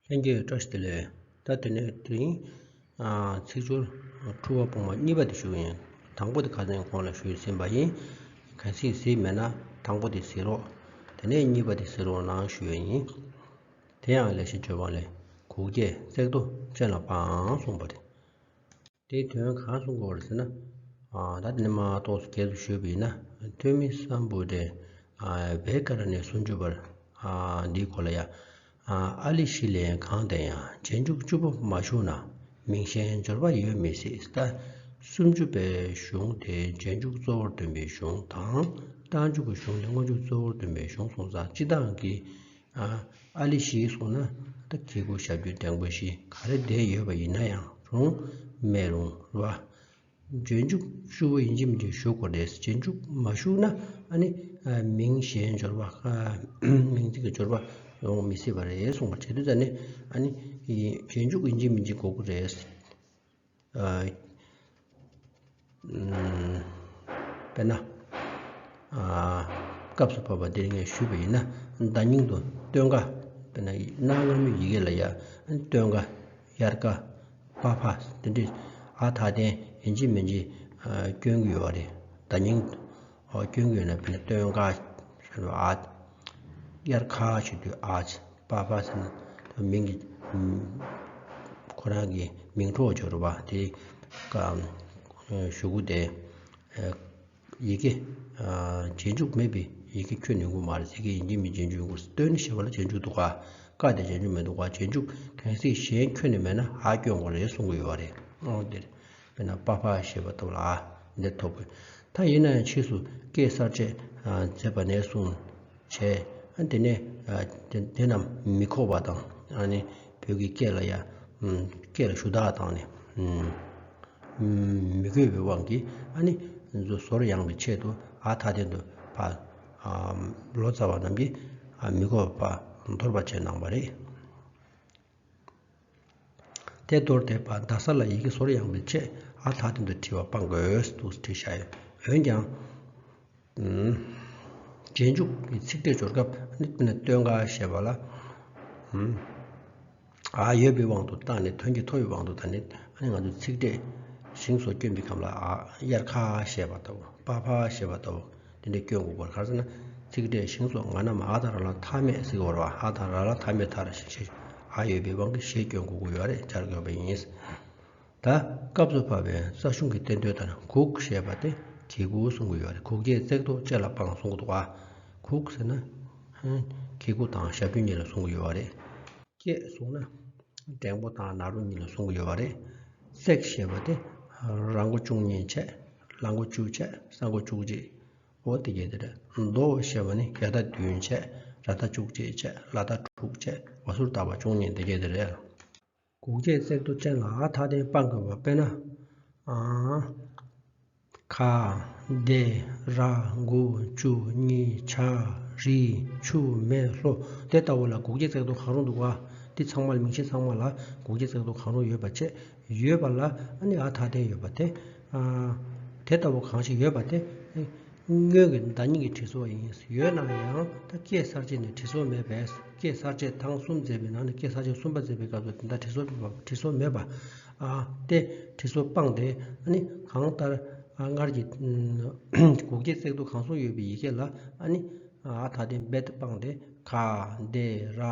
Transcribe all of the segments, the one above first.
ལྷན་སྐྱེས་བཀྲ་ཤིས་བདེ་ལེགས། ད་དེ་ནས་དེ་རིང། ཚིག་སྦྱོར། འཁྲུལ་བ་སྤོང་བ་གཉིས་པ་དེ་ཞུ་ཡིན། དང་པོ་དེ་ཁ་ཟས་གོང་ལ་ཞུས་ཟིན་པ་ཡིན། གལ་སྲིད་གཟིགས་མེད་ན་དང་པོ་དེ་ཟིན་རོགས། དེ་ནས་གཉིས་པ་དེ་ཟིན་རོགས་གནང་ཞུ་ཡ་ཡིན། དེ་ཡང་ལས་བྱེད་ཇོ་བང་ལས་གུག་རྒྱལ་བརྩེགས་རྡོ་ཅན་ལ་པའང་གསུངས་པ་རེད། དེའི་དོན་གང་གསུང་དགོས་བར་ཟེར་ན། ད་དེ་ནས་མ་གཏོགས་སུ་སྐྱེལ་དུ་བཞུད་པ་ཡིན་ན་ཐོན་མི་བསམ་བུ་དེ་བེ་ཀ་ར་ནས་སུན་བཅུ་བར་འདིའི་སྐོར་ལ་ཡ་ཨ་ལི་ཤི་ལན་གང་བསྟན་ཡང་རྗེས་འཇུག་བཅུ་པོ་མ་བཞུགས་ན་མིང་གཞན་འབྱོར་པ་ཡོད་མི་སྲིད་ལྟ། སུམ་ཅུ་པའི་གཞུང་དེ་རྗེས་འཇུག་གཙོ་བོར་འདོན་པའི་གཞུང་དང་རྟགས་འཇུག་གི་གཞུང་དེ་སྔོན་འཇུག་གཙོ་བོར་འདོན་པའི་གཞུང་གསུངས་ཙང་སྤྱི་བཏང་གི་ཨ་ལི་ཞིའི་གསུང་ན་ད་ཁྱེད་སྐུ་ཞབས་རྒྱུན་ལྡན་སྐུ་ཞེ་ག་རེ་བསྡད་ཡོད་པ་ཡིན་ན་ཡང་རུང་སྨྲས་རུང་ལ། རྗེས་འཇུག་ཤུ་བོ་ཡིན་གྱིམ་གྱིས་ཞུ་གོ་རེད་རྗེས་འཇུག་མ་ཞུགས་ན་ཨ་ནི་མིང་གཞན་འབྱོར་བ་མིང་ཅིག་གི་འབྱོར་བ་ཡོང་མི་སྲིད་པ་རེད་གསུངས་པ་བྱེད་དུས་ད་ནི་ཨ་ནི་རྗེས་འཇུག་ཡིན་གྱིམ་གྱིས་གོ་གི་རེད། དཔེར་ན། སྐབས་སུ་བབ་པ་འདིར་ངས་ཞུས་པ་ཡིན་ན་བརྡ་རྙིང་དུ་སྟོན་ཀ་དཔེར་ན་གནའ་སྔ་མོའི་ཡི་གེ་ལ་ཡང་སྟོན་ཀ་དབྱར་ཀ་བྷ་བྷ་འདི་འདྲའི་ཨ་མཐའ་རྟེན་འབྱེད་མི་འབྱེད་སྐྱོན་གྱི་ཡོད་རེད་བརྡ་རྙིང་སྐྱོན་གྱི་ནི་བུ་ནི་སྟོན་དགའ། ཞེས་པའི་ཨཱ། དབྱར་ཁ་ཞེས་པའི་ཨཱ། པ་པ་ཞེས་པའི་ཨཱ། མིང་གི། ཁོ་རང་གི་མིང་གྲོགས་སྦྱོར་བ་དེ། ཞུ་གུ་སྟེ། ཡི་གེ། རྗེས་འཇུག་མེད་པའི་ཡི་གེ་ཁྱོད་ནི་མགུ་མ་རེད་ཟེར་གྱི་ཡིན་གྱི་མིན་རྗེས་འཇུག་མགུ། སྟོན་ཞེས་པ་ལ་རྗེས་འཇུག་འདུག་ག། དགའ་དེ་རྗེས་འཇུག་མི་འདུག་ག་རྗེས་འཇུག་གལ་སྲིད་གཞན་ཁྱོད་ནི་མེད་ན་ཨཱ་སྐྱོན་གོ་རེད་གསུང་གི་ཡོད་རེད། དཔེར་ན་པཱ་པཱ་ཞེས་པ་ཐོབ་ལ་ཨ་འདིར་ཐོབ་གི། ད་ཡིན་ན་ཡང་ཕྱིས་སུ་ཀེ་སར་ཆས་མཛད་པ་ནས་བཟུང་བྱས། དེ་ནས་དེ་རྣམས་མི་ཁོགས་པ་དང་ཨ་ནི་བོད་ཀྱི་སྐད་ལ་ཡང་སྐད་ལ་ཞུ་དག་དང་ནི་མི་དགོས་པའི་དབང་གིས་ཨ་ནི་ཟོར་ཡང་བའི་ཆེད་དུ་ཨ་མཐའ་རྟེན་དུ་ཕ་ལོ་ཙཱ་བ་རྣམས་ཀྱིས་མི་ཁོགས་པ་འདོར་བར་བྱས་གནང་བ་རེད། ཐད་གཏོར་བཏེགས་པ་རྡ་ས་ལ་ཡི་གེ་བཟོར་ཡང་མི་ཆད་ཨ་ཐག་དོན་དུ་བྲིས་བ་སྤང་དགོས་འདུག་བྲིས་བཞག་ཡོད་འོན་ཀྱང། རྗེས་འཇུག་གི་ཚིག་འགྲེལ་སྦྱོར་སྐབས་ནི་སྟོན་ཀ་ཞེས་པ་ལ། ཨ་ཡོད་པའི་དབང་དུ་བཏང་ནས་དོན་གྱི་མཐོ་བའི་དབང་དུ་ད་ནི་ང་ཚོས་ཚིག་འགྲེལ་ཞིང་བཟོ་བཅོས་འབི་ཁམས་ལ་ཨ་དབྱར་ཁ་ཞེས་པ་ལྟ་བུ་པ་ཕ་ཞེས་པ་ལྟ་བུ། དེ་འདྲའི་སྐྱོན་འགོག་པར་གར་ཚེ་ན། ཚིག་འབྲས་ཤིང་སོགས་ང་ན་མ་ཨ་དང་ར་ལ་མཐའ་མེད་གཟིགས་བར་བ་ཧ་དང་ར་ལ་མཐའ་མེད་མཐར་ཞེས་བྱ་ཨ་ཡོད་པའི་དབང་གིས་ཞེས་སྐྱོན་འགོག་གི་ཡོ་རེ་སྦྱར་དགོས་པ་ཡིན། ད་སྐབས་སུ་བབ་པའི་རྩ་གཞུང་གི་བསྟན་དོན་ལྟར་གུག་ཞེས་པ་སྟེ་གི་གུ་གསུང་གི་ཡོ་རེ་གུག་རྒྱས་བརྩེགས་ཐོགས་བཅས་ལ་དཔང་གསུང་གི་བ། གུག་ཟེར་ན། གི་གུ་དང་ཞབས་རྒྱུན་གཉིས་ལ་གསུང་གི་ཡོ་བ་རེ། རྒྱས་གསུང་ན། འགྲེང་བུ་དང་ནཱ་རོ་གཉིས་ལ་གསུང་གི་ཡོ་བ་རེ། བརྩེགས་ཞེས་པ་སྟེ་ར་མགོ་ཅུང་གཉིས་ཕྱེད། ལ་མགོ་བཅུག་བྱས་ས་མགོ་བཅུག་རྗེས་འོ་དེ་གས་དེ་རེད་མདོ་ཞེས་པ་ནི་གས་ད་བདུན་བྱས་ར་ད་བཅུག་རྗེས་བྱས་ལ་ད་དྲུག་བྱས་བ་ཟུར་བཏགས་པ་བཅུ་གཉིས་དེ་གས་དེ་རེད། གུག་བྱས་བརྩེགས་རྡོ་ཅན་ལ་ཨ་མཐའ་རྟེན་སྤང་དགོས་པ་དཔེར་ན། ཁ། བདེ། ར། མགོ། བཅུ། གཉིས། བྱ། རི། ཆུ། མེ། ལྷོ། དེ་ལྟ་བུ་ལ་གུག་བྱས་བརྩེགས་རྡོ་གང་རུང་འདུག་བ། འདི་ཚང་མ་ལ་མིང་ཆེན་ཚང་མ་ལ་གུག་བྱས་བརྩེགས་རྡོ་གང་རུང་ཡོད་པ་ཆེས་ཡོད་པ་ལ་ནི་ཨ་ཐ་དན་ཡོད་པ་དེ། དེ་ལྟ་བུ་གང་ཞིག་ཡོད་པ་དེ། སྔོན་གྱི་བདག་ཉིད་ཀྱི་དྲི་སོགས་ཡིན། ཡོད་ན་ཡང་ད་སྐད་གསར་བཅད་ནི་དྲི་སོགས་མེད་པས་སྐད་གསར་བཅད་དང་གསུམ་མཛད་པའི་ནང་ནས་སྐད་གསར་བཅད་གསུམ་པ་མཛད་པའི་སྐབས་སུ་དེ་ལྟར་དྲི་སོགས་མེད་པ། སྟེ། དྲི་སོགས་སྤངས་ཏེ་ནི་གང་ལྟར་སྔར་གྱི་གུག་སྐྱེད་བརྩེགས་འདུག་གང་གསུང་ཡོད་པའི་ཡི་གེ་ལ་ནི་ཨ་ཐ་དན་རྦད་དེ་སྤངས་ཏེ་ག། འདི། ར།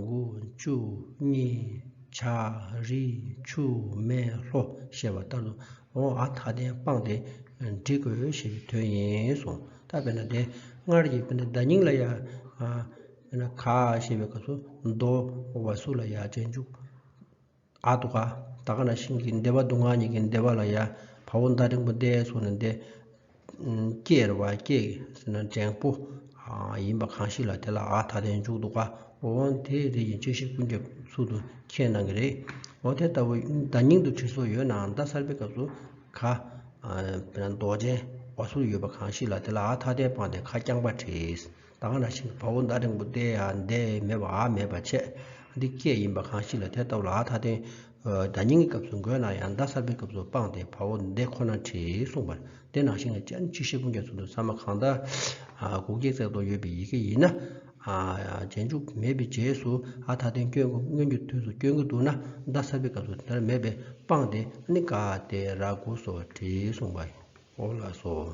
འགུ། ཅུ། གཉིས། བྱ། རི་ཆུ་མེ་ལྷོ་ཞེས་པ་ལྟར་དུ་ཨོ་ཨ་མཐའ་རྟེན་སྤངས་ཏེ་འབྲི་དགོས་ཞེས་པའི་དོན་ཡིན་གསུངས། ད་བས་ན་དེ་སྔར་གྱི་བརྡ་རྙིང་ལ་ཡ། བས་ན་ག་ཞེས་པའི་སྐབས་སུ་རྡོ་བ་སུ་ལ་ཡ་ཅན་འཇུག། ཨ་དུ་ག་ད་ག་ན་ཤིང་གི་འདེབས་པ་དུ་ང་གཉིས་ཀྱི་འདེབས་པ་ལ་ཡ། བ་བུ་མདའ་འབྲིང་པོ་འདེད་སོགས་ནི་འདེད། སྐྱེར་བ་སྐྱེས་འབྲེང་པོ་ཡིན་པ་གང་ཞིག་ལ་དེ་ལ་ཨ་ད་ལྟའི་མཇུག་ཏུ་ཀ་འོ་འོན་དེ་རེ་ཡིན་ཅི་ཞིག་ཀུན་ཀྱང་ཚུལ་དུ་མཁྱེན་གནང་གི་རེད་འོ་དེ་ལྟ་བུ་བརྡ་རྙིང་དུ་བྲིས་སོགས་ཡོད་ནའང་རྡ་སར་པའི་སྐབས་སུ་ཁ་མདོག་ཅན་བ་སུ་ཡོད་པ་གང་ཞིག་ལ་དེ་ལ་ཨ་ད་ལྟའི་པང་དེ་ཁ་རྐྱང་པ་བྲིས། དག་ན་ཞིང་གི་བ་བོ་མདའ་འབྲིང་པོ་སྟེ་ཨ་འདས་མེད་པ་ཨ་མེད་པ་ཆད་འདི་སྐད་ཡིན་པ་གང་ཞིག་ལ་དེ་ལྟབུ་ལ་ཨ་ཐ་དེ་མདའ་རྙིང་གི་སྐབས་སུ་འགོད་ན་ཡང་མདའ་གསར་པའི་སྐབས་སུ་སྤངས་ཏེ་བ་བོ་མདས་ཁོ་ན་བྲིས་གསུངས་པར་དེ་ནང་བཞིན་ལ་སྤྱན་གཅིག་ཤེལ་སྤུངས་རྒྱ་མཚོ་དུ་ས་མ་གང་དག་གུག་སྐྱེད་བརྩེགས་ཐོག་ཡོད་པའི་ཡི་གེ་ཡིན་ན་རྗེས་འཇུག་མེད་པའི་རྗེས་སུ་ཨ་ཐ་དེ་སྐྱོན་སྔོན་གྱི་དུས་སུ་སྐྱོན་གྱི་འདུག་ན་མདའ་གསར་པའི་སྐབས་སུ་དེར་མེད་པས་སྤངས་ཏེ་ཨ་ནི་ག་ཨ་སྟེ་ར་དགུ་སོགས་བྲིས་གསུངས་པའོ་ལགས་སོ།